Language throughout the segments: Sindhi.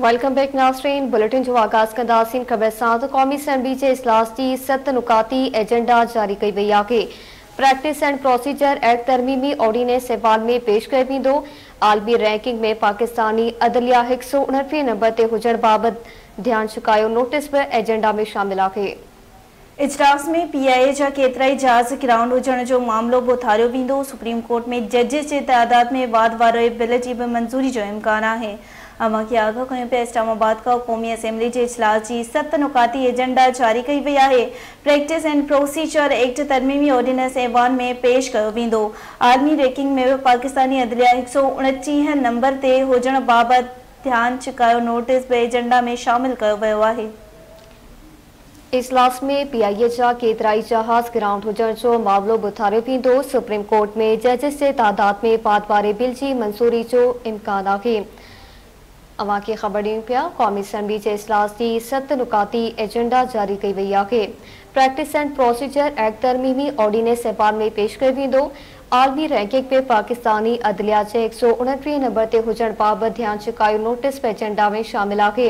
ويلڪم بيڪ ناظرين بليٽن جو آغاز ڪنداسين خبر سان ته قومي اسيمبلي جي اجلاس جي ست نقاطي ايجنڊا جاري ڪئي وئي آهي پريڪٽس اينڊ پروسيجر ايڪٽ ترميمي آرڊيننس ايوان ۾ پيش ڪيو ويندو عالمي رينڪنگ ۾ پاڪستاني عدليا هڪ سؤ اڻٽيهه نمبر تي هجڻ بابت ڌيان ڇڪايو نوٽس به ايجنڊا ۾ شامل آهي. اجلاس ۾ پي آء اي جا ڪيترائي جهاز گرائونڊ هجڻ جو معاملو به اٿاريو ويندو، سپريم ڪورٽ ۾ ججز جي تعداد ۾ واڌ واري بل جي به منظوري جو امڪان آهي، اوهان کي آگاهه ڪيون پيا اسلام آباد کان قومي اسيمبلي جي اجلاس جي ست نقاطي ايجنڊا جاري ڪئي وئي آهي، پريڪٽس اينڊ پروسيجر ايڪٽ ترميمي آرڊيننس ايوان ۾ پيش ڪيو ويندو، عالمي ريڪنگ ۾ به پاڪستاني عدليه هڪ سؤ اڻٽيهه نمبر تي هجڻ بابت ڌيان ڇڪايو نوٽيس به ايجنڊا ۾ شامل ڪيو ويو آهي. اجلاس ۾ پي آء اي جا ڪيترائي جهاز گرائونڊ هجڻ جو معاملو به اٿاريو ويندو، سپريم ڪورٽ ۾ ججز جي تعداد ۾ واڌ واري بل جي منظوري جو امڪان آهي. اوهان کي خبر ڏيون پيا قومي اسيمبلي جي اجلاس جي ست نقاطي ايجنڊا جاري ڪئي وئي آهي، پريڪٽس اينڊ پروسيجر ايڪٽ ترميمي آرڊيننس ايوان ۾ پيش ڪيو ويندو، عالمي رينڪنگ ۾ پاڪستاني عدليه جي هڪ سؤ اڻٽيهه نمبر تي هجڻ بابت ڌيان ڇڪايو نوٽيس به ايجنڊا ۾ شامل آهي،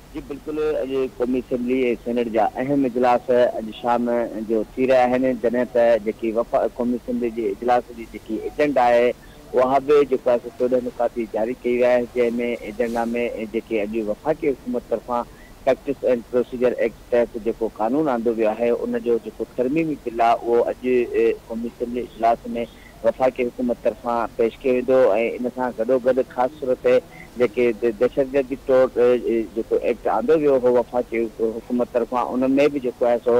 جي بلڪل اڄ قومي اسيمبلي ۽ سينيٽ جا اهم اجلاس اڄ شام جو ٿي رهيا آهن جڏهن ته جيڪي وفاق قومي اسيمبلي جي اجلاس جي جيڪي ايجنڊا آهي اها به جيڪو آهي سو چوڏهن نقاطي جاري ڪئي وئي آهي جنهن ۾ ايجنڊا ۾ جيڪي اڄ وفاقي حڪومت طرفان پريڪٽس اينڊ پروسيجر ايڪٽ تحت جيڪو قانون آندو ويو آهي ان جو جيڪو ترميمي بل آهي اهو اڄ قومي اسيمبلي اجلاس ۾ وفاقي حڪومت طرفان پيش ڪيو ويندو ۽ ان سان گڏوگڏ خاص طور تي جيڪي دهشتگردي ٽوڙ جيڪو ايڪٽ آندو ويو هو وفاقي حڪومت طرفان ان ۾ به جيڪو آهي سو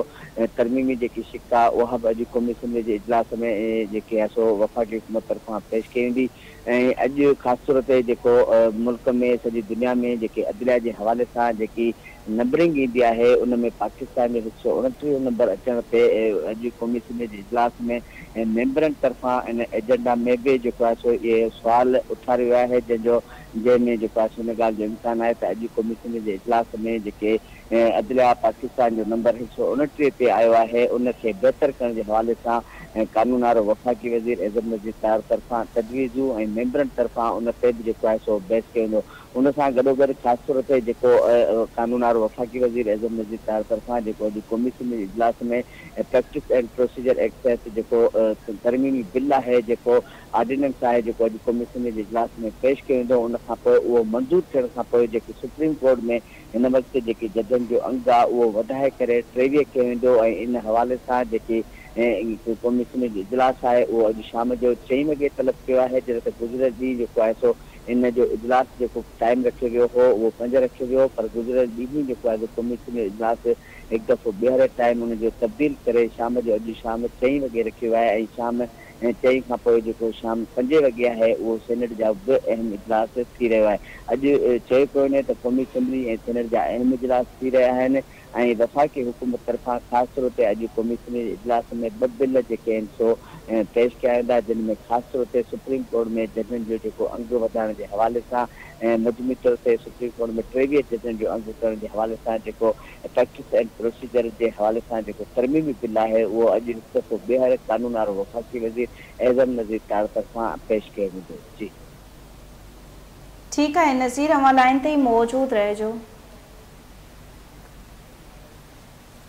ترميمي جيڪي شق آهي اها به اڄ قومي اسيمبلي جي اجلاس ۾ جيڪي آهي سو وفاقي حڪومت طرفان پيش ڪئي ويندي. ۽ اڄ خاص طور تي جيڪو ملڪ ۾ سڄي دنيا ۾ جيڪي عدليا جي حوالي سان جيڪي نمبرنگ ايندي آهي ان ۾ پاڪستان جو هڪ سؤ اڻٽيهه نمبر اچڻ تي اڄ قومي اسيمبلي جي اجلاس ۾ ميمبرن طرفان ان ايجنڊا ۾ به جيڪو آهي سو اهي سوال اٿاريو ويو آهي جنهن جو جنهن ۾ جيڪو آهي سو ان ڳالهه جو امڪان آهي ته اڄ قومي اسيمبلي جي اجلاس ۾ جيڪي عدليا پاڪستان جو نمبر هڪ سؤ اڻٽيهه تي آيو آهي ان کي بهتر ڪرڻ جي حوالي سان ۽ قانون آرو وفاقي وزير اعظم نذير تار طرفان تجويزون ۽ ميمبرن طرفان ان تي به جيڪو آهي سو بحث ڪيو ويندو ان سان گڏوگڏ خاص طور تي جيڪو قانون آرو وفاقي وزير اعظم نذير تار طرفان جيڪو اڄ قومي اسيمبلي جي اجلاس ۾ پريڪٽس اينڊ پروسيجر ايڪٽ تحت جيڪو ترميمي بل آهي جيڪو آرڊيننس آهي جيڪو اڄ قومي اسيمبلي جي اجلاس ۾ پيش ڪيو ويندو ان کانپوء اهو منظور ٿيڻ کانپوء جيڪي سپريم ڪورٽ ۾ هن وقت جيڪي ججن جو انگ آ اهو وڌائي ڪري ٽيويهه ڪيو ويندو ۽ ان حوالي سان جيڪي ڪميشن جو اجلاس آهي اهو اڄ شام جو چئين وڳي طلب ڪيو آهي جڏهن ته گذريل ڏينهن جيڪو آهي سو ان جو اجلاس جيڪو ٽائيم رکيو ويو هو اهو پنج رکيو ويو پر گذريل ڏينهن جيڪو آهي سو ڪميشن جو اجلاس هڪ دفعو ٻيهر ٽائيم ان جو تبديل ڪري شام جو اڄ شام چئين وڳي رکيو ويو آهي ۽ شام ۽ چئن کان پوء جيڪو شام پنجين وڳي آهي اهو سينيٽ جا به اهم اجلاس ٿي رهيو آهي. اڄ چيو پيو وڃي ته قومي اسيمبلي ۽ سينيٽ جا اهم اجلاس ٿي رهيا آهن ۽ وفاقي حڪومت طرفان خاص طور تي اڄ قومي اسيمبلي جي اجلاس ۾ ٻه بل جيڪي آهن سو پيش ڪيا ويندا جن ۾ خاص طور تي سپريم ڪورٽ ۾ ججن جو جيڪو انگ وڌائڻ جي حوالي سان مجموعي طور تي سپريم ڪورٽ ۾ ٽيويهه ججن جو انگ ڪرڻ جي حوالي سان جيڪو ايٿڪس اينڊ پروسيجر جي حوالي سان جيڪو ترميمي بل آهي اهو اڄ هڪ دفعو ٻيهر قانون آرو وفاقي وزير اعظم نذير تاڙ طرفان پيش ڪيو ويندو. جي. ٺيڪ آهي نذير اوهان لائين تي ئي موجود رهجو.